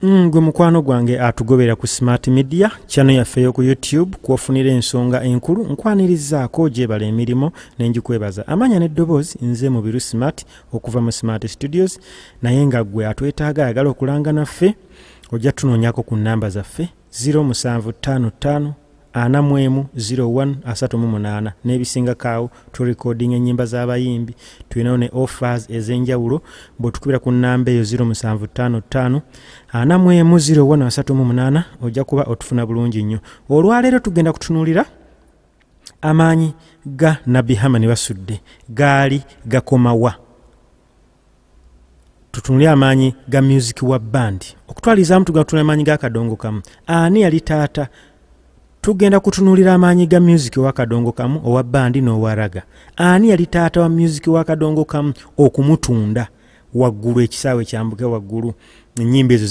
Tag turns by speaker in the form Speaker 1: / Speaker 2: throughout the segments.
Speaker 1: Mm, gwe mukwano gwange atugobera ku smart media chano yaffe yoku youtube kwofunira ensonga enkulu nkwanirizaako gyebala emirimu nenjikwebaza amanya neddoboozi nze mubiru smart okuva mu smart studios naye nga gwe atwetaaga ayagala okulanga naffe ojja tunoonyako ku nnamba zaffe 0755 ana mu emu 01 asatu mu munaana n'ebisingako awo turekodinga ennyimba z'abayimbi tulinawo ne offers ez'enjawulo bw'otukubira ku nnamba eyo 0755 ana mu emu 01 asatu mu munaana ojja kuba otufuna bulungi nnyo olwaleero tugenda kutunuulira amaanyi ga nabbi hamani basudde gaali gakomawa tutunule amaanyi ga music wa band okutwalizaamu tugenda kutunula amaanyi ga kadongo kamu ani yali taata tugenda kutunuulira amaanyi ga music wa kadongo kamu owa bandi n'owa raga ani yali taata wa music wa kadongo kamu okumutunda waggulu ekisaawe kyambuke waggulu enyimba ezo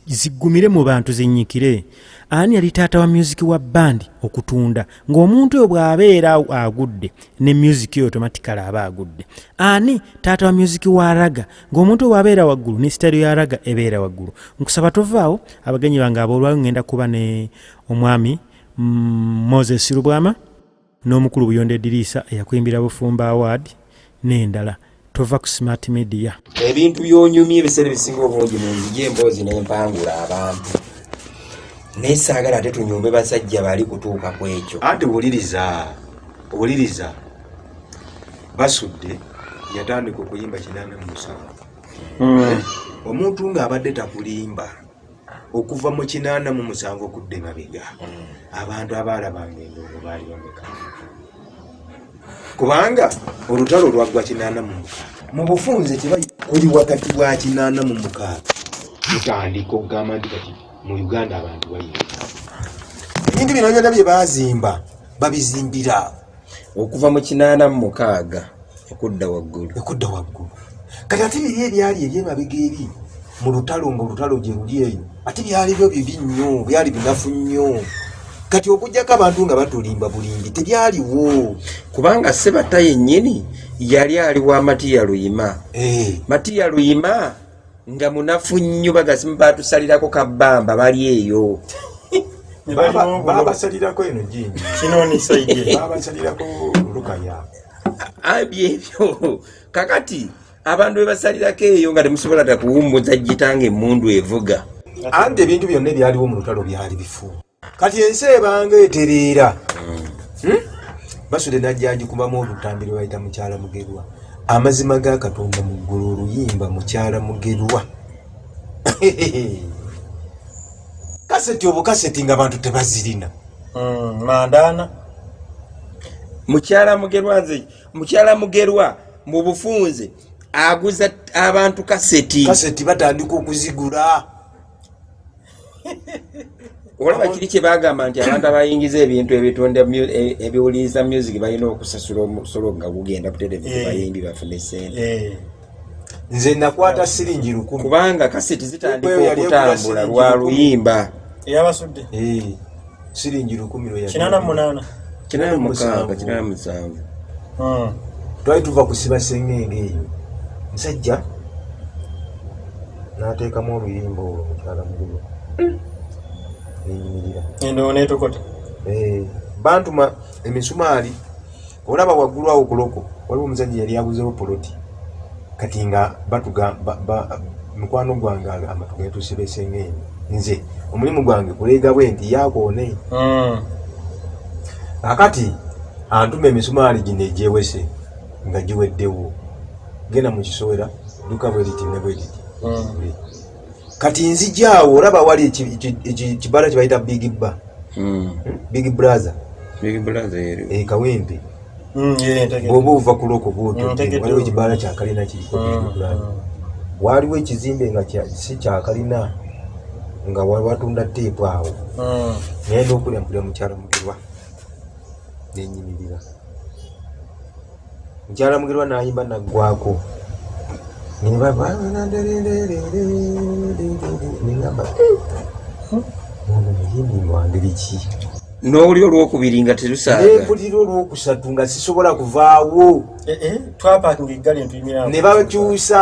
Speaker 1: zigumire mu bantu zinyikire ani yali taata wa music wa bandi okutunda ng'omuntu oyo bw'abeera agudde ne music oyo tomatikale aba agudde ani taata wa music wa raga ng'omuntu oyo bw'abeera waggulu ne sitayiro ya raga ebeera waggulu nkusaba tovaawo abagenyi bange aboolwayo ngenda kuba ne omwami mm, moses lubwama n'omukulu Buyondo Ediriisa eyakuyimbira Bufumbo Award n'endala. Tova ku Smart Media. Ebintu by'onyumya
Speaker 2: ebiseera ebisinga obungi mu nzigi emboozi n'empangula abantu naye saagala ate tunyumbe basajja bali kutuuka ku ekyo. Anti
Speaker 3: wuliriza wuliriza basudde yatandika okuyimba kinaana mu musanvu hmm. omuntu ng'abadde takulimba. okuva mu kinaana mu musanvu okudda emabega mm. abantu abaalabanga endongo baali bameka kubanga olutalo lwaggwa kinaana mu mukaaga mu bufunze tebali kuli wakati wa kinaana mu mukaaga tutandika okugamba nti kati mu uganda abantu bayinga ebintu bino byona bye baazimba babizimbira okuva
Speaker 2: mu kinaana mu mukaaga okudda waggulu okudda waggulu
Speaker 3: kati ate biri ebyali ebyemabega eri mu lutalo ngaolutalo gye luli eyo ate byali byo bibi nnyo byali binafu nnyo kati okujjako abantu nga batulimba bulimbi tebyaliwo kubanga
Speaker 2: sebata yennyini yali ali wa matiya luyima eh. matiya luyima nga munafu nnyo bagasimu batusalirako kabamba bali eyo babasalirako
Speaker 3: eno jinji
Speaker 1: babasalirako
Speaker 3: lukaya abyebyo
Speaker 2: kakati abantu bebasalirako eyo nga temusobola takuwumbuza jitanga emundu evuga anti ebintu
Speaker 3: byonna ebyaliwo mu lutalo byali bifu kati ensi ebanga etereera hmm. Hmm? basude najjagikubamu olutambi lwebayita mukyala mugerwa amazima ga katonda mu ggulu oluyimba mukyala mugerwa kaseti obukaseti nga abantu tebazirina hmm, mandana
Speaker 2: mukyala mugerwa nze mukyala mugerwa mu bufunze aguza abantu kaseti kaseti batandika okuzigula olaba kiri kye bagamba nti abantu abayingiza ebintu ebitonda e, ebiwuliriza music balina okusasula omusolo nga gugenda buterevu eh. bayimbi bafune sente eh. nze
Speaker 3: nakwata siringi lukumi kubanga kaseti
Speaker 2: zitandika okutambula lwa luyimba eyabasudde
Speaker 1: eh.
Speaker 3: siringi lukumi lwe kinana munana kinana mukanga
Speaker 2: kinana musanvu hmm.
Speaker 3: twali tuva kusiba sengenge eyo musajja nateekamu oluyimba olwo mukyala mugulu hmm. neyimirira
Speaker 1: endowo netokota eh,
Speaker 3: bantuma emisumaali Olaba waggulu awo kuloko waliwo omusajja yali aguzewo poloti kati nga batuga mukwano gwange amatu getuuse besengeeni nze omulimu gwange kuleega bwe nti yakoone hmm. akati antuma emisumaali gino egyewese nga giweddewo genda mu kisowera duka bweriti ne bweriti hmm. kati nzijaawo olaba wali ekibala kyebayita big ba hmm. big brother eh, kawempe hmm, bwoba ova kuloko bwotwaliwo hmm, ekibala kyakalina kiriko waliwo ekizimbe nga si kyakalina nga watunda teepu awo naye nokulya mpulya mukyalo mugirwa nenyimirira Mukyala Mugerwa n'ayimba naggwaako ne bava nengamba
Speaker 2: ono muyimbi mwangeri ki n'oluli olwokubiri nga terusaanempulira olwokusatu
Speaker 3: nga sisobola kuvaawo
Speaker 1: eh, eh,
Speaker 3: twapakinga
Speaker 1: eggali ne
Speaker 3: bakyusa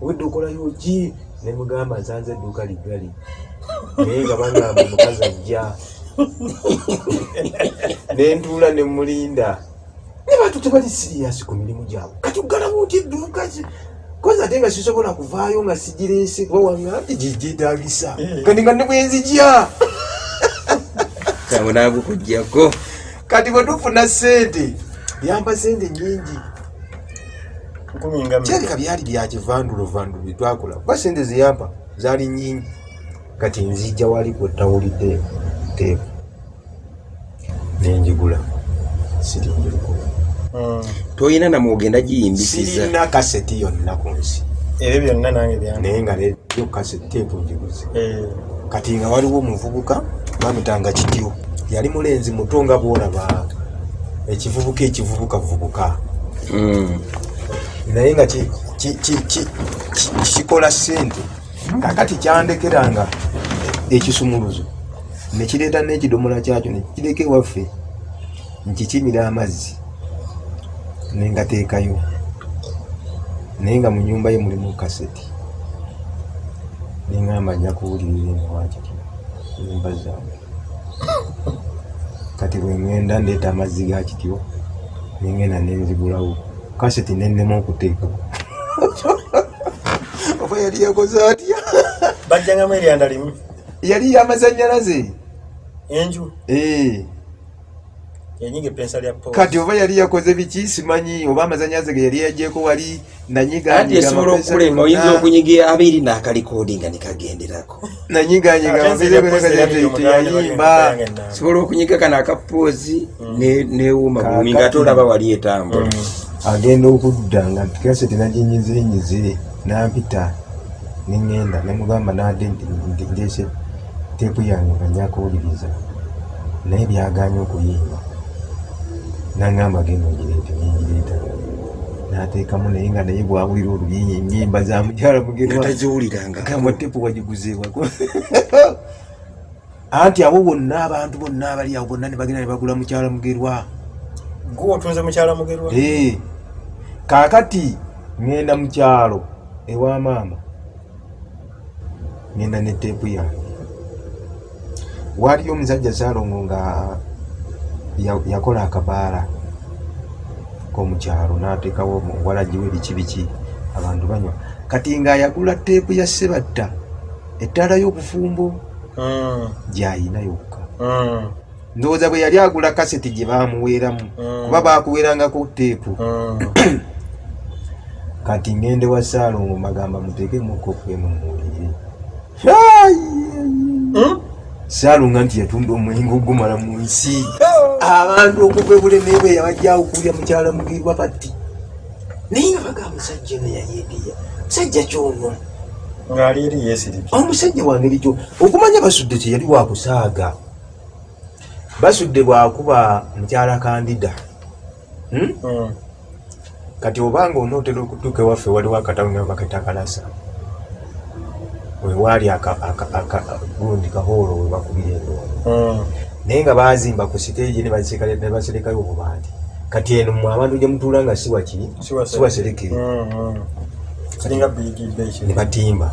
Speaker 3: obwedda okolayo ki nemugamba nsanze edduuka liggali naye nga bagamba omukazi ajja nentuula nemulinda ne bantu tebali siriyasi ku mirimu gyabwe kati ogalamu nti edduuka kozi ate nga sisobola kuvaayo nga sigireese kuba wanga nti gyegyetagisa eh. kati nga ne bwenzigya kyangu
Speaker 2: nagukujjako kati bwe
Speaker 3: tufuna sente yampa sente nyingi kirabika byali byakivandulovandu byetwakola kuba sente zeyampa zaali nyingi kati nzijja wali kwetawulidde teeku nenjigula sirinjiriko hmm.
Speaker 2: toyina namwogenda giyimbisizana kaseti
Speaker 3: yonna ku nsi ebyo byonna nange
Speaker 1: bya naye nga yo
Speaker 3: kaseti teeku njiguze eh. kati nga waliwo omuvubuka bamutanga kityo yali mulenzi muto nga bwolaba ekivubuka ekivubuka vubuka hmm. naye nga kikola sente kakati kyandekera nga ekisumuluzo nekireeta n'ekidomola kyakyo nekireka ewaffe nkikimira amazzi nengateekayo naye nga mu nyumba ye mulimu kaseti nengamba nja kuwulirira eno wakiri nyumba zange kati bwengenda ndeeta amazzi ga kityo nengenda nenzigulawo kaseti nennema okuteeka oba yali yakoze atya bajjangamu
Speaker 1: eryanda limu yali
Speaker 3: yamazanyalaze enju
Speaker 1: ee eh. kati oba yali yakoze
Speaker 3: biki simanyi oba amazanyaze ge yali yajeko wali nanyigaesobola
Speaker 2: okukulema oyinza okunyiga abiri nakalikodinga nikagenderako
Speaker 3: nanyiganyigaayimba sobola
Speaker 2: okunyiga kana akapoozi mm. newuma bumi nga ate olaba wali etambula mm. agenda
Speaker 3: okudda nga kase tenaginyizenyize nampita nengenda nemugamba nade ndese Teepu yange nga nja kuwuliriza naye byagaanye okuyimba nangamba genda ogireete nengireeta nateekamu naye nga naye bwawulira oluyinyi enyimba za mukyala mugerwataziwulirangagamba tepu wagiguzeewako anti abo bonna abantu bonna abali awo bonna ne bagenda ne bagula mukyala mugerwa gwe
Speaker 1: otunze mukyala mugerwa kaakati
Speaker 3: ŋŋenda mu kyalo ewa maama ngenda ne teepu yange waaliyo omusajja salongo nga yakola akabaala komukyalo nateekawo walagiwe biki biki abantu banywa kati nga ayagula teepu ya sebatta ettaala y'obufumbo ah. gyayina yokka ah. ndowooza bwe yali agula kaseti gye baamuweeramu mm. kuba baakuweerangako teepu mm. kati ngende wa saalongo magamba muteekemuko kwemuwulire hmm? saalonga nti yatunda omuyingo ogumala mu nsi abantu okuva ebulemeebwe yabajjawo kulya mukyala mugirwa kati naye nga baga musajja ono yayeegeya musajja kyono
Speaker 1: omusajja wangeri kyo
Speaker 3: okumanya basudde teyali wakusaaga basudde bwakuba mukyala kandida hmm? Hmm. kati obanga onootera okutuuka ewaffe waliwo akatawunabakatakalasa wewaali gundi kahoolo webakubira endoondo hmm. naye nga bazimba ku siteegi nebaserekayo obubandi kati eno mwe abantu gyemutuula nga siwakiri siwaserekere ne batimba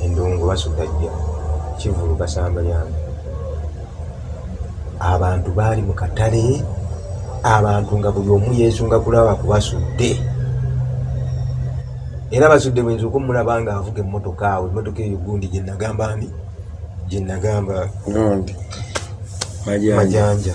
Speaker 3: endongo basugajja kivulu basamba lyange abantu baali mu katale abantu nga buli omu yesunga kulaba kubasudde era basudde bwenzi okumulaba nga avuga emmotoka awo emmotoka eyo gundi gyenagamba ni gyenagamba gundi majanja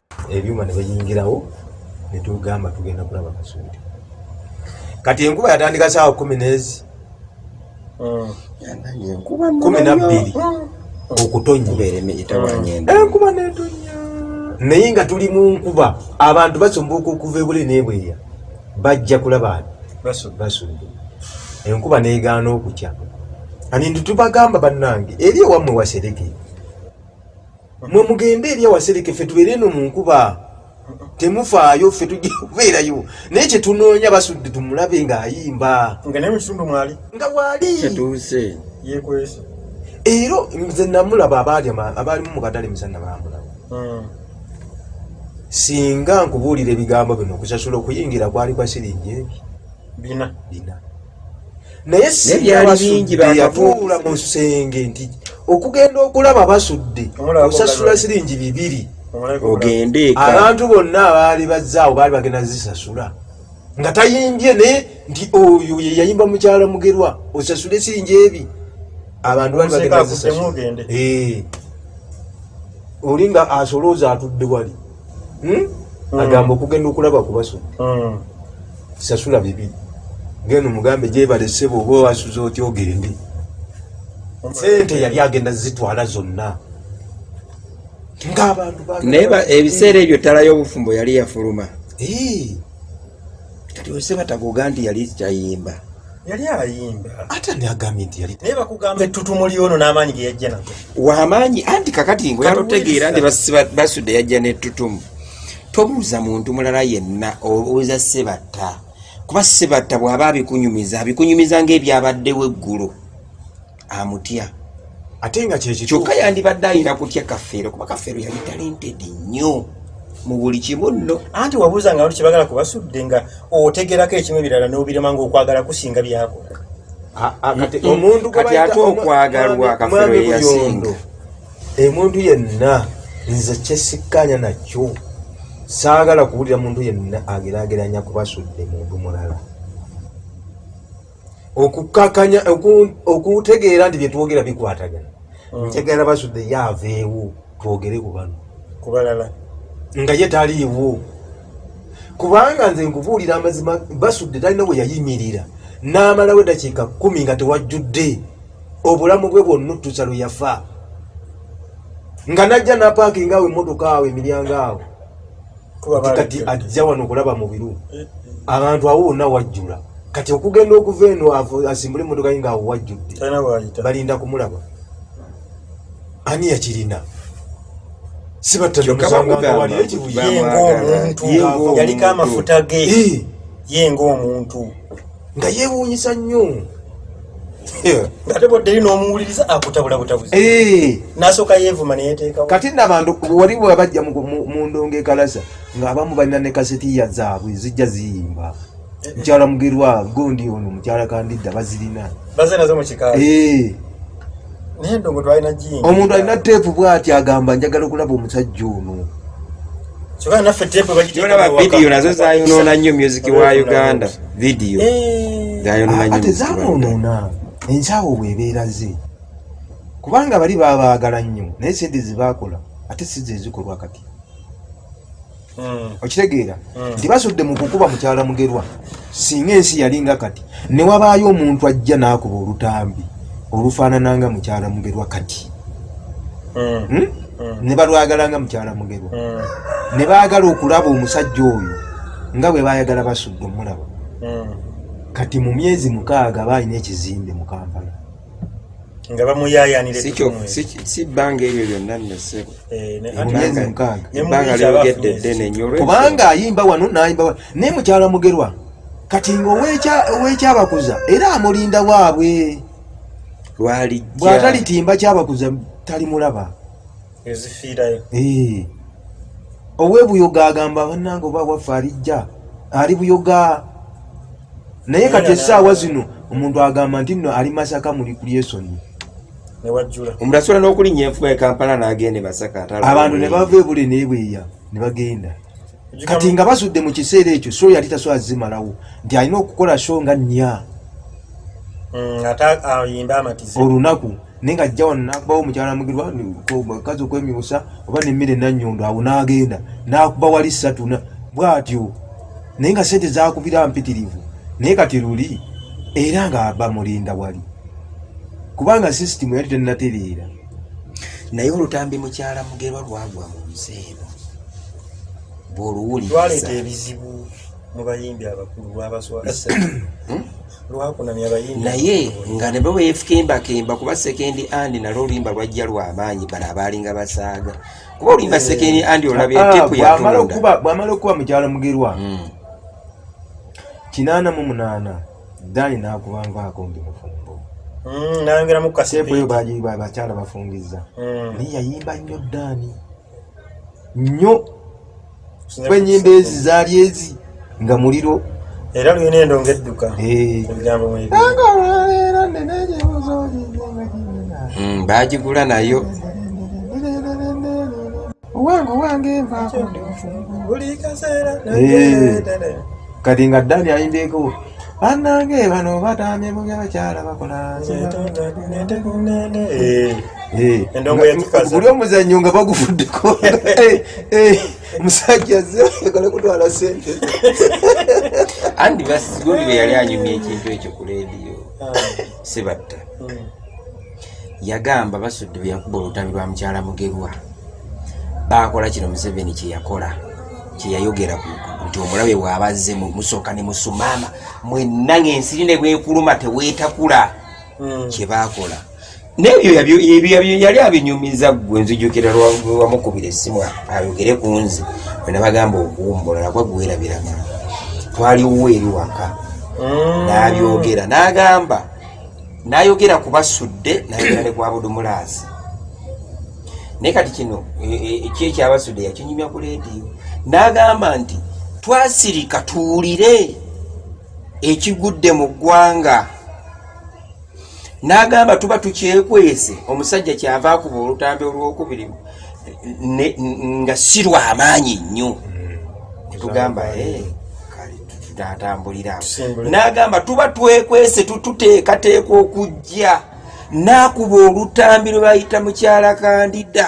Speaker 3: ebyuma ne bayingirawo ne tugamba tugenda kulaba kasuudi kati enkuba yatandika saawa kumi n'ezi hmm. kumi nabbiri okutonnya enkuba netonya naye nga tuli mu nkuba abantu basumbuuka okuva ebule nebweya bajja kulaba basumbu enkuba negaana okukya ani ntitubagamba bannange eri ewamwe wasereke mwe mugende eri awasereke ffe tubeere eno mu nkuba temufaayo ffe tujja kubeerayo naye kyetunoonya basudde tumulabe ng'ayimba nga naye mukitundu mwali nga waali kyetuuse yekwese era nze namulaba abaali abaalimu mu katale misana bamulaba hmm. singa nkubuulira ebigambo bino okusasula okuyingira kwali kwa siringi ebi bina bina naye sibyali bingi bakatuula mu nsenge nti okugenda okulaba basudde osasula siringi bibiri ogende abantu bonna abaali bazzaawo baali bagenda zisasula nga tayimbye naye nti oyo yeyayimba mukyala mugerwa osasule siringi ebi abantu baali bagenda zisasula eh. oli nga asolooza atudde wali hmm? mm. agamba okugenda okulaba kubaso mm. sasula bibiri ngeno mugambe gyebale sebo oba wasuza otya ogende sente yali agenda zitwala zonna ngaabantu naye ebiseera
Speaker 2: ebyo tala y'obufumbo yali yafuluma kati osebatagoga nti yali kyayimba yali
Speaker 4: ayimba ate ndi agambye
Speaker 3: nti yali naye bakugamba ettutumu
Speaker 4: lyono n'amaanyi ge yajja nago wamaanyi anti
Speaker 2: kakati ngo yalotegeera nti basudde yajja n'ettutumu tobuuza muntu mulala yenna obuuza sebatta kuba sebatta bw'aba abikunyumiza abikunyumiza ng'ebyabaddewo eggulo amutya ate
Speaker 3: nga kyekyo kyokka yandibadde
Speaker 2: ayina kutya kafeero kuba kafeero yali talented nnyo mu buli kimu nno anti wabuuza nga lwaki
Speaker 4: bagala kubasudde nga otegerako ekimu ebirala n'obirema nga okwagala kusinga byakola ah, ah,
Speaker 2: omuntu kati ate okwagalwa kafeero yeyasinga emuntu
Speaker 3: yenna nze kyesikkaanya nakyo saagala kuwulira muntu yenna agerageranya kubasudde muntu mulala okukakanya okutegeera nti byetwogera bikwatagana mm. nkyagala basudde ye aveewo twogere ku bano kubalala
Speaker 4: nga ye
Speaker 3: taliiwo kubanga nze nkubuulira amazima basudde talina we yayimirira n'amalawo eddakiika kkumi nga tewajjudde obulamu bwe bwonna otusa lwe yafa nga najja napaakinga awo emmotoka awo emiryango awo kati kati ajja wano kulaba mubiru eh, eh. abantu awo wonna wajjula kati okugenda okuva eno asimbule emotoka ye ngaawo wajjudde balinda kumulaba ani yakirina sibattaomuntu
Speaker 4: yaliko amafuta ge eh. ye ngaomuntu nga
Speaker 3: yewuunyisa nnyo
Speaker 4: eh. nasooka yeevuma neyeteekao kati nabantu
Speaker 3: wali wabajja mu ndongo ekalaza ng'abamu balina ne kasetiya zaabwe zijja ziyimba mukyala mugerwa gondi ono mukyala kandidda bazirina baze nazo mukikaali
Speaker 4: eh. omuntu alina teepu
Speaker 3: bwati agamba njagala okulaba omusajja ono
Speaker 4: vidiyo nazo
Speaker 2: zayonoona nnyo music wa uganda vidiyo ate zayonoona
Speaker 3: enkyawo bwebeera ze kubanga bali babaagala nnyo naye sente zebakola ate size ezikolwa kati Mm. okitegeera mm. nti basudde mu kukuba mukyala mugerwa singa ensi yalinga kati ne wabaayo omuntu ajja n'akuba olutambi olufaanana nga mukyala mugerwa kati mm. hmm? ne balwagala nga mukyala mugerwa ne baagala okulaba omusajja oyo nga bwe baayagala basudde omulaba kati mu myezi mukaaga baalina ekizimbe mu kampala nga
Speaker 4: bamuyaayaanira si
Speaker 2: bbanga eryo lyonna nnesebbanga
Speaker 3: eh, lyogedde
Speaker 2: ddene nyo kubanga ayimba wano
Speaker 3: nayimba wano naye mukyala mugerwa kati nga owekyabakuza era amulinda waabwe bwatalitimba kyabakuza talimulaba
Speaker 4: ezifiirayo eh.
Speaker 3: owebuyoga agamba banange oba waffe alijja ali buyoga naye kati esaawa zino omuntu agamba nti no ali masaka muli kulyesoni
Speaker 2: omuntu asobola n'okulinnya enfuga ekampala n'agenda emasaka abantu ne bava ebule
Speaker 3: nebweya ne bagenda kati nga basudde mu kiseera ekyo so yali tasobola zimalawo nti alina okukola sho nga nnya
Speaker 4: mm, olunaku
Speaker 3: naye nga ajja wano nakubawo mukyala mugirwa kazi okwemyusa oba nemmere nanyondo awo nagenda nakuba wali satuna bwatyo naye nga sente zakubira mpitirivu naye kati luli era nga aba mulinda wali kubanga sisitimu yali tenatereera naye
Speaker 2: olutambi mukyala mugerwa lwagwa mu nsi eno bwoluwuliraleta ebizibu
Speaker 4: mu bayimbi abakulu lwabaswaa hmm? naye nga ne
Speaker 2: bweyefukimbakimba kuba sekendi andi nalwo oluyimba lwajja lwamaanyi bano abaalinga basaaga kuba oluyimba eh. sekendi andi olabye ah, tepu yatondabwamala okuba mukyalo
Speaker 3: mugerwa hmm. kinaana mu munaana dani nakubanvaako ndi mufumbo hmm,
Speaker 4: nayongeramukaseepu eyo
Speaker 3: bakyala
Speaker 4: bafungiza
Speaker 3: hmm. naye yayimba nnyo dani nnyo kuba enyimba ezi zaali ezi nga muliro era lulina endo
Speaker 4: ngaedduka ebigambo
Speaker 2: bagigula nayo
Speaker 3: owange owange nvaako kati nga dani ayimbyeko banange bano batamye mu byabakyala bakola
Speaker 4: guli omuzannyo nga
Speaker 3: baguvuddeko musajja zekale kutwala sente
Speaker 2: andi basigundi beyali anyumya ekintu ekyo ku lediyo sibatta yagamba basudde bweyakuba olutambi lwa mukyala mugerwa baakola kino museveni kyeyakola kyeyayogera nti omulabe bwabazze musooka ne musumaama mwenna ng'ensiri ne bwekuluma teweetakula hmm. kye baakola nebyo yali abinyumiza gwe nzijukira lwamukubira essimu ayogere ku nze wenabagamba okuwumbula nakwa gwerabiraga twaliwo eri waka hmm. n'abyogera n'agamba nayogera kubasudde nayogera ne kwa budumulaazi naye kati kino e, e, e, ki ekyabasudde yakinyumya ku leediyo n'agamba nti twasirika tuwulire ekigudde mu ggwanga n'agamba tuba tukyekwese omusajja kyava akuba olutambi olwokubiri nga si lwamaanyi nnyo netugamba ee eh, gyatambulira n'agamba tuba twekwese tututeekateeka okujja n'akuba olutambi lwe bayita mukyala kandida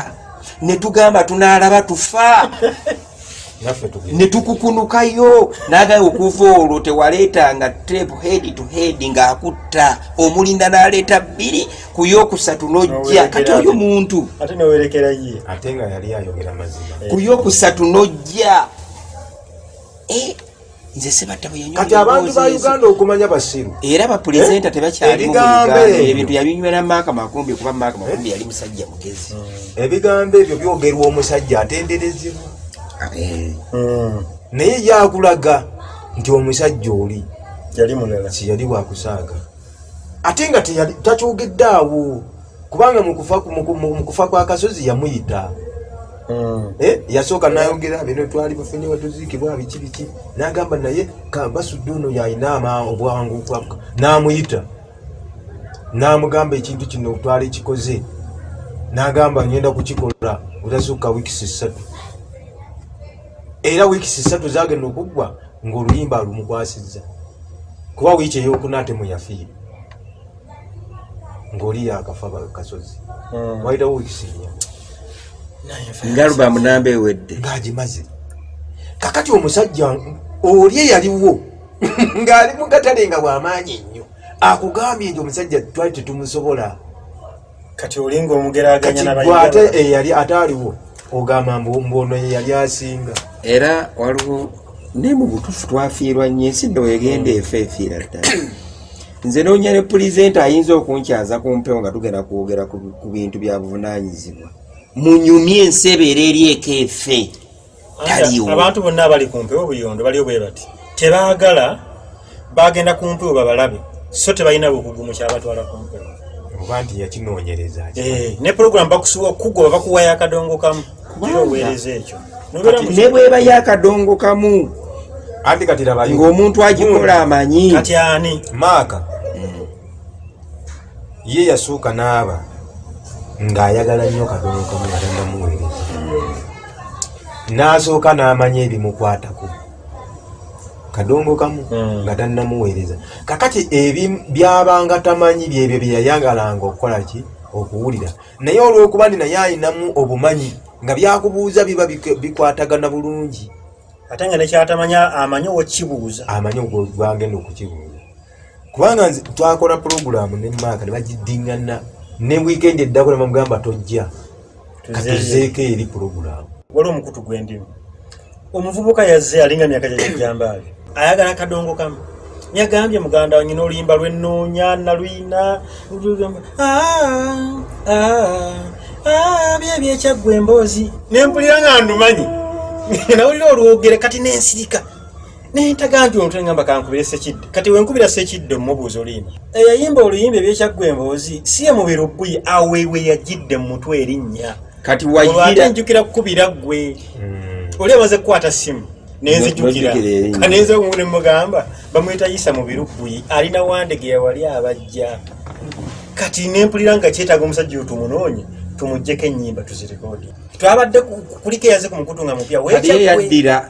Speaker 2: ne tugamba tunaalaba tufa ne tukukunukayo n'agamba okuva olwo tewaleetanga tepu heedi tu heedi ng'akutta omulinda n'aleeta bbiri ku yokusatu n'ojja kati oyo muntu
Speaker 3: ku yokusatu
Speaker 2: n'ojja eh, nze sibatta bwe yanywa kati abantu ba uganda
Speaker 3: okumanya basiru era bapulezenta eh?
Speaker 2: tebakyali mu uganda ebintu yabinywera maaka makumbi kuba maaka eh? makumbi yali musajja mugezi hmm. ebigambo ebyo
Speaker 3: byogerwa omusajja atenderezebwa hmm. naye yakulaga nti omusajja oli yali mulala
Speaker 4: siyali wakusaaga
Speaker 3: ate nga takyogedde awo kubanga mu kufa kwa kasozi yamuyita mm. eh, yasooka nayogera bino twali bafunye watuziikibwa biki biki nagamba naye basudde ono yalina obwangu namuyita namugamba ekintu kino twali kikoze nagamba ngenda kukikola otasukka wikisi ssatu era wikisi ssatu zagenda okuggwa ngaoluyimba alumukwasizza kuba wiiki eyokunaatemu yafiire ngoli yakafa bakasozi mm. waitawo wikisinya ngalubamu namba
Speaker 2: ewedde ngagimaze
Speaker 3: kakati omusajja oli eyaliwo ng'ali mu katale nga bw'amaanyi ennyo akugambye nti omusajja twali tetumusobola kati
Speaker 4: olinga omugeraganya na bayiga ate eyali
Speaker 3: eh, ataaliwo ogamba mbu mbu ono ye yali asinga era waliwo
Speaker 2: ne mu butuufu twafiirwa nnyo ensi nno egenda hmm. efa efiira ddala nze noonya ne pulizenti ayinza okunkyaza ku mpewo nga tugenda kwogera ku bintu bya buvunaanyizibwa munyumye ensi ebeera eri eka efe taliwo abantu bonna abali
Speaker 4: ku mpewo buyondo baliyo bwe bati tebaagala bagenda ku mpewo babalabe so tebalina bukugu mu kyabatwala ku mpewo oba nti
Speaker 3: yakinoonyereza eh, ne pulogulamu
Speaker 4: bakusiwa okugoba bakuwa yakadongo kamu oweereza ekyo ne bweba
Speaker 2: yakadongo kamu
Speaker 3: ng'omuntu agikola
Speaker 2: amanyi kati ani
Speaker 4: maaka
Speaker 3: ye yasooka n'aba ng'ayagala nnyo kadono kamu yagenda muweereza n'asooka n'amanya ebimukwatako kadongo kamu hmm. nga tannamuweereza kakati ebi byabanga tamanyi byebyo bye yayagalanga okukola ki okuwulira naye olw'okuba ndi naye alinamu obumanyi nga byakubuuza biba bikwatagana
Speaker 4: bulungi
Speaker 3: ate
Speaker 4: nga nekyatamanya
Speaker 3: amanyi
Speaker 4: okibuuza amanyi
Speaker 3: gwagenda
Speaker 4: okukibuuza
Speaker 3: kubanga nze twakola pulogulaamu ne maaka ne bagiddingana ne wiikendi eddako ne bamugamba tojja katuzeeko eri pulogulaamu waliwo omukutu gwendimu
Speaker 4: omuvubuka yazze alinga myaka gyajajambaali ayagala kadongo kamu yagambye muganda wanyina oluyimba lwenoonya naluyina ah, ah, ah, byebyekyagwa emboozi nempulira nga ndumanyi nawulira olwogere kati nensirika naye ntaga nti omuntu engamba kankubire sekidde kati wenkubira sekidde omubuuza oluyimba eyayimba oluyimba ebyekyaggwa emboozi si ye mubiro bbuyi awewe yagidde mu mutwe erinnya kati wayira
Speaker 2: njukira
Speaker 4: kukubira ggwe hmm. oli amaze kukwata simu nenzijukira kanenze omu ne mugamba bamwita yisa mubiru bbuyi alina wandege yawali abajja kati nempulira nga kyetaaga omusajja oyo tumunoonye tumujjeko ennyimba tuzirikodi twabadde kuliko eyaze ku mukutu nga mupya weyaddira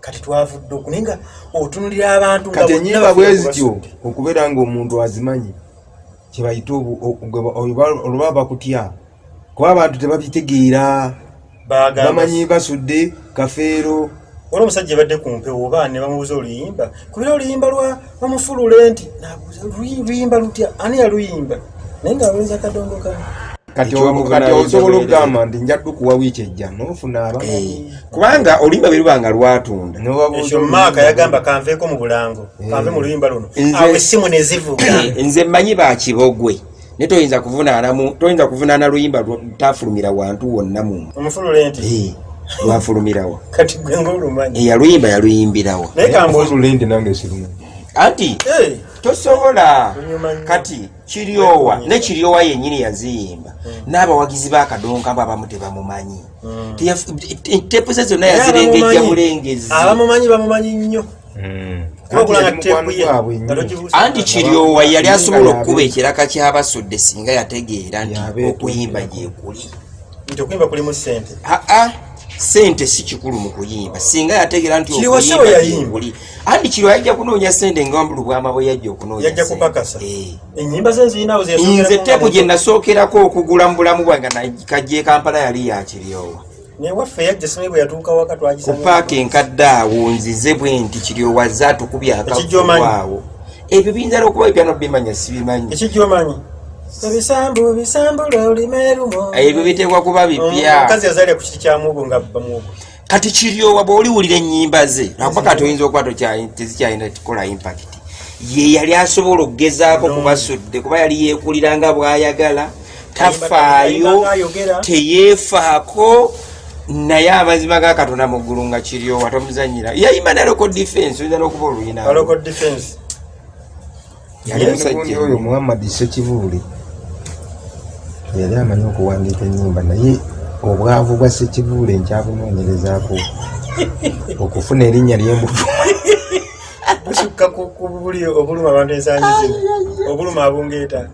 Speaker 4: kati twavudde oku naye nga otunulira abantu kati enyimba bwezityo
Speaker 3: okubeera nga omuntu azimanyi kyebayita oluba bakutya kuba abantu tebabitegeera bamanyi basudde kafeero wali omusajja
Speaker 4: ebadde ku mpewo oba ne bamubuuza oluyimba kubera oluyimba lwa omufulule nti luyimba lutya ani yaluyimba naye nga lwenza kadongo ka
Speaker 3: kati osobola okugamba nti njaddu kuwa wiiki ejja nofuna aba eh. kubanga oluyimba bwe
Speaker 2: luba nga lwatunda ekyo maaka
Speaker 4: yagamba kanveeko mu bulango kanve mu luyimba luno awo essimu ne zivuga eh, nze mmanyi
Speaker 2: bakibogwe naye toyinza kuvunaanamu toyinza kuvunaana luyimba lutafulumira wantu wonna mu omufulule nti eh,
Speaker 4: lwafulumirawo
Speaker 2: kati gwe
Speaker 4: ngaolumanyi eh, yaluyimba yaluyimbirawo
Speaker 2: naye kamufulule
Speaker 4: nti nange
Speaker 3: siruma anti
Speaker 2: eh. tosobola kati kiryowa ne kiryowa yennyini yaziyimba hmm. n'abawagizi b'akadonka abo abamu tebamumanyi hmm. tepu ze zonna yazirengejja bulengezi abamumanyi bamumanyi
Speaker 4: nnyo
Speaker 2: anti kiryowa yali asobola okukuba ekiraka kyabasudde singa yategeera nti okuyimba gyekuli
Speaker 4: sente
Speaker 2: si kikulu mu kuyimba singa yategeera nti okuyimbauli anti kiryowa yajja kunoonya sente nga lubwama bwe yajja
Speaker 4: okunoonyainze teku gye
Speaker 2: nasookerako okugula mu bulamu bwange kajja ekampala yali yakiryowa
Speaker 4: ku paaka enkadde
Speaker 2: awo nzize bwe nti kiryowaze atukubye akakuwaawo ebyo biyinza nokuba ebyano bimanya sibimanyi
Speaker 4: ebyo biteekwa kuba
Speaker 2: bipya
Speaker 4: kati kiryowa
Speaker 2: bwoliwulira enyimba ze akuba kati oyinza okuba tezikyalina kikola impakiti ye yali asobola okugezaako kubasudde kuba yali yekulira nga bwayagala tafaayo teyeefaako naye amazima ga katonda mu ggulu nga kiryowa tomuzanyira yayima na loko defense oyinza n'okuba oluyina
Speaker 3: yali musajja oyo muhammad sekibuule yali amanyi okuwandiika enyimba naye obwavu bwa sekibuule nkyabunoonyerezaako okufuna erinnya lyembufu
Speaker 4: busukka ku buli obuluma abantu ensangi zino obuluma abungeeta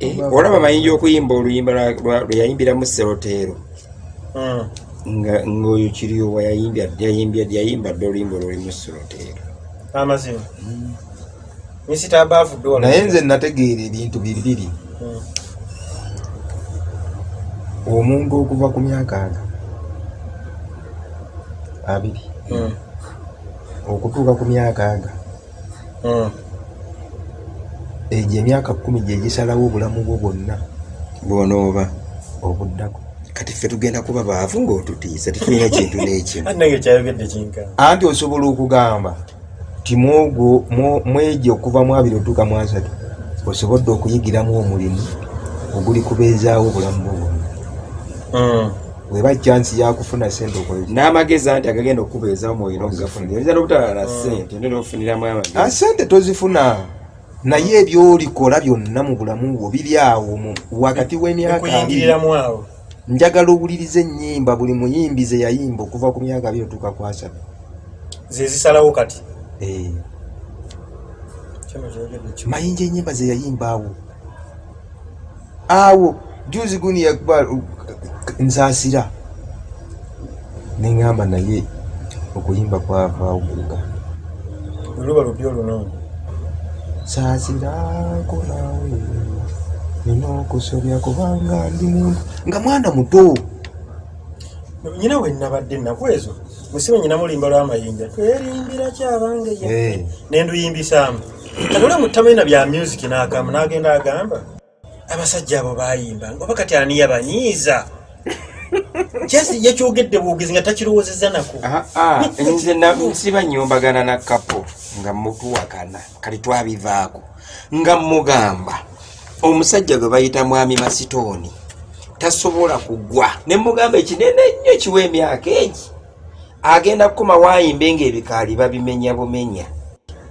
Speaker 2: Eh, olaba bayinja okuyimba oluyimba lweyayimbira mu seroteero hmm. ngaoyo kiriyo wayayimbadeyayimba dde oluyimba oluli mu seroteero
Speaker 4: amazima hmm. naye nze nategeera
Speaker 3: ebintu bibiri hmm. omuntu okuva ku myaka aga abiri okutuuka ku myaka aga hmm. egyo emyaka kumi gyegisalawo obulamu bwo bwonna bwonooba
Speaker 2: obuddako
Speaker 3: kati ffe tugenda
Speaker 2: kuba baavu ngaotutiisa tetulina kintu nekyoanti
Speaker 4: osobola
Speaker 3: okugamba ti mwogwo mwegi okuva mu abiri otuuka mu asatu osobodde okuyigiramu omulimu oguli kubeezaawo obulamu bwo bwonna hmm. weba chance ya kufuna sente okoye n'amagezi anti agagenda
Speaker 2: okukubeeza omwoyo n'okugafunira oyinza n'obutala na sente nti n'ofuniramu amagezi ah, sente tozifuna
Speaker 3: naye ebyolikola byonna mu bulamu bwo biri awo wakati w'emyaka
Speaker 4: njagala owuliriza
Speaker 3: ennyimba buli muyimbi ze yayimba okuva ku myaka byo otuuka kwasaba
Speaker 4: zezisalawo kati eh.
Speaker 3: mayinja ennyimba ze yayimba awo awo juzi guni yakuba nsasira nengamba naye okuyimba kwavaawo kuga oluba
Speaker 4: lubi oluno sasira
Speaker 3: kolawe nina okusobya kubanga ndi muntu nga mwana muto
Speaker 4: nyina wenabadde ennaku ezo musibe nyina mulimba lwamayinja twerimbira kyabange eh. nenduyimbisaamu kati olwe mutamanyina bya music nakamu nagenda agamba abasajja abo bayimba oba kati ani yabanyiiza kyesi yekyogedde bwogezi nga takirowoozeza nako ah, ah, nze
Speaker 2: nsiba nyombagana na kapo nga mutuwakana kati twabivaako nga mugamba omusajja gwe bayita mwami masitooni tasobola kugwa ne mugamba ekinene ennyo kiwa emyaka egi agenda kukoma wayimbe nga ebikaali babimenya bumenya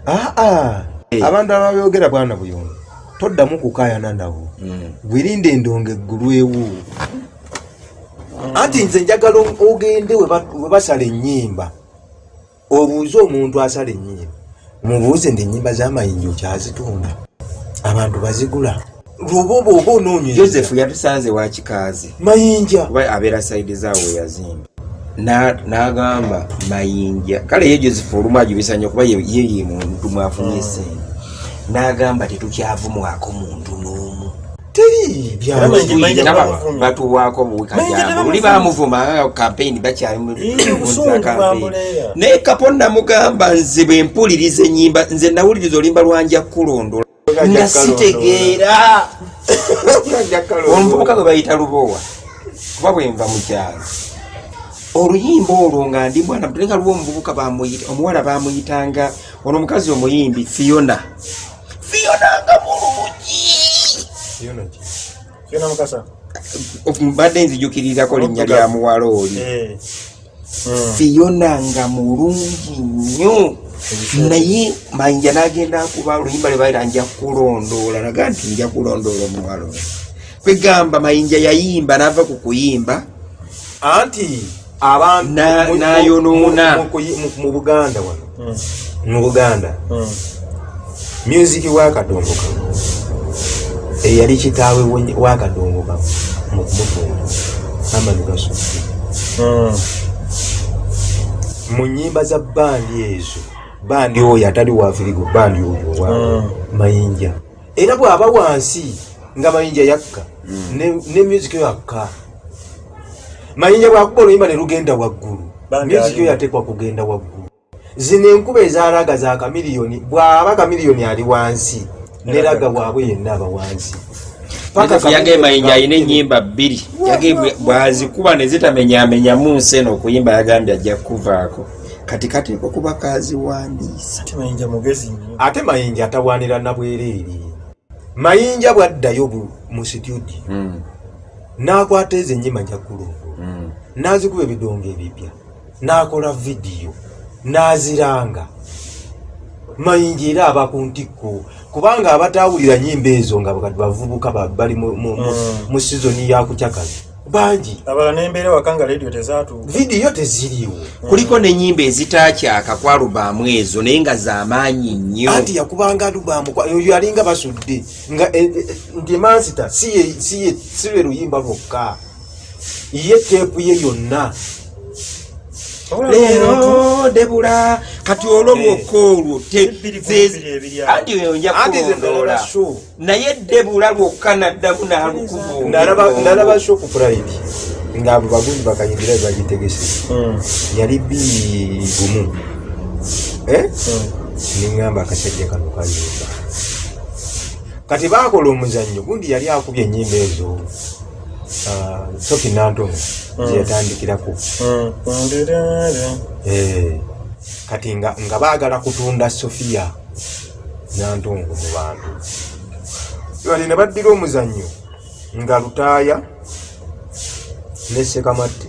Speaker 2: aa ah, ah. eh.
Speaker 3: abantu ababyogera bwana buyondo toddamu kukayana nabo hmm. gwirinde endongo eggulwewo anti nze njagala ogende webasala enyimba obuuze omuntu asala enyimba mubuuze nti enyimba zamayinja okyazitunda abantu bazigula lubobo oba onoonya joseph yatusanze
Speaker 2: wa kikaazi mayinja kuba
Speaker 3: abeera sayidi
Speaker 2: zaawo yazimba n'agamba mayinja kale ye joseph olumu ajubisa nnyo kuba yeye muntu mwafunye hmm. sente n'agamba tetukyavumwako muntu n'omu batuwaako obuwikajamuli bamuvuma kampeyini bakyalinaye kapo namugamba nze bwempuliriza enyimba nze nawuliriza olimba lwanja kukulondola nga sitegeera omuvubuka gwe bayita lubowa kuba bwenva mukyalo oluyimba olwo nga ndi mwana muto nga lwo omuvubuka bamuyita omuwala bamuyitanga ono omukazi omuyimbi fiona fiona nga mulungi
Speaker 4: mbadde
Speaker 2: nzijukirirako linnya lya muwala oli eh. hmm. fiyona nga mulungi nnyo naye manja nagenda akuba oluyimba lwebaira nja kulondoola naga nti nja kulondoola omuwalo kwegamba mayinja yayimba nava ku kuyimba anti
Speaker 3: abantu nayonoona
Speaker 2: mu
Speaker 3: buganda wano hmm. mu buganda hmm. myuziki wakadongo ka eyali kitaawe wakadongo ka mu kumutunda amani gasukki hmm. mu nyimba za bandi ezo bandi oyo atali wafirigo bandi oyo wa mayinja era bwaba wansi nga mayinja yakka hmm. ne music yo yakka mayinja bwakuba oluyimba ne lugenda waggulu music yo yateekwa kugenda waggulu zino enkuba ezaraga za kamiliyoni bwaba kamiliyoni ali wansi neraga waabwe yenna aba wansi
Speaker 2: yagee mayinja alina enyimba bbiri yagee bwazikuba nezitamenyamenyamu nsi eno okuyimba yagambye ajja kukuvaako kati kati niko kuba kaziwandiisa
Speaker 3: ate mayinja atawaanira nabwereere mayinja bwaddayo mu situdio hmm. n'akwata ezo ennyima njagguluvu hmm. n'azikuba ebidongo ebipya n'akola vidiyo n'aziranga mayinja era aba ku ntikko kubanga abataawulira nyimba ezo nga bavubuka bali mu hmm. sizoni yakucakaza bangi abala nembeera waka
Speaker 4: nga radio tezatu vidiyo teziriwo
Speaker 3: mm. kuliko nenyimba
Speaker 2: ezitakyaka ku alubaamu ezo naye nga zamaanyi nnyo anti yakubanga alubaamu
Speaker 3: oyo alinga basudde nga eh, eh, eh, nti emansita si lwe luyimba lwokka ye teepu ye yonna leero
Speaker 2: debula kati olwo bwokka olwo anti eyo njakuondoola naye debula lwokka naddamu nalukuvunalaba
Speaker 3: shopu pride nga abo bagundi bakayingira bebagitegese hmm. yali bigumu eh? hmm. neŋamba akasajja kano kayimba kati bakola omuzannyo gundi yali akubye enyimba ezo ah, soki nantono hmm. zeyatandikirako eh, kati nga bagala kutunda sofiya Nantongo mu bantu bali ne baddira omuzannyo nga Lutaaya ne Ssekamatte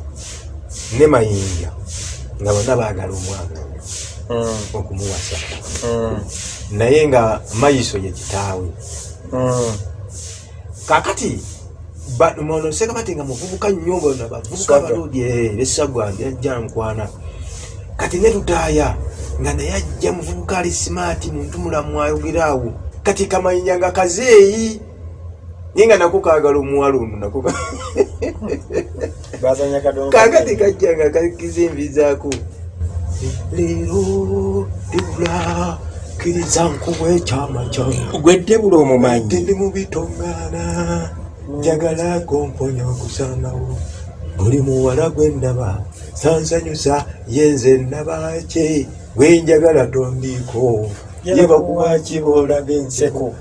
Speaker 3: ne Mayinja nga bonna baagala omwana hmm. okumuwasa hmm. naye nga Mayiso ye kitaawe hmm. kakati ono sekabati nga muvubuka nnyo bona bavubuka abalodi eh, besagwa ajja nkwana kati ne lutaaya nga naye ajja muvubuka ali simaati muntu mulamu ayogera awo kati kamanyinya nga kazeeyi naye nga nako kaagala omuwala ono nako kakati kajja nga kakiza envizaako leero debula kiriza nkuwa ekyama kyange gwedde bula omumanyi
Speaker 2: ndi mu bitongaana
Speaker 3: njagala komponya okusanawo buli muwala gwe ndaba sansanyusa yenze nabaki gwenjagala tondiiko yebakuwaki boolaga enseko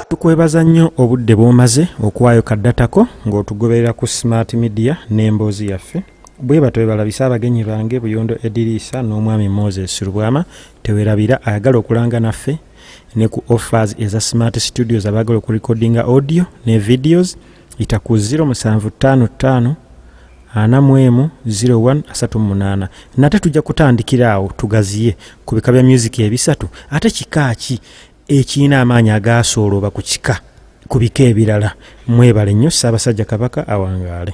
Speaker 1: tukwebaza nnyo obudde bwomaze okuwaayo kaddatako ng'otugoberera ku smart media n'emboozi yaffe bwebato bebalabise abagenyi bange buyondo ediriisa n'omwami moses lubwama tewerabira ayagala okulanga naffe ne ku offers eza smart studios abaagala okurekodinga audio ne videos ita ku 0755 ana mu emu 01 asatu mu munaana nate tujja kutandikira awo tugaziye ku bika bya myuziki ebisatu ate kika ki ekirina amaanyi agaasoolooba ku kika ku bika ebirala mwebale nnyo ssaabasajja kabaka awangaale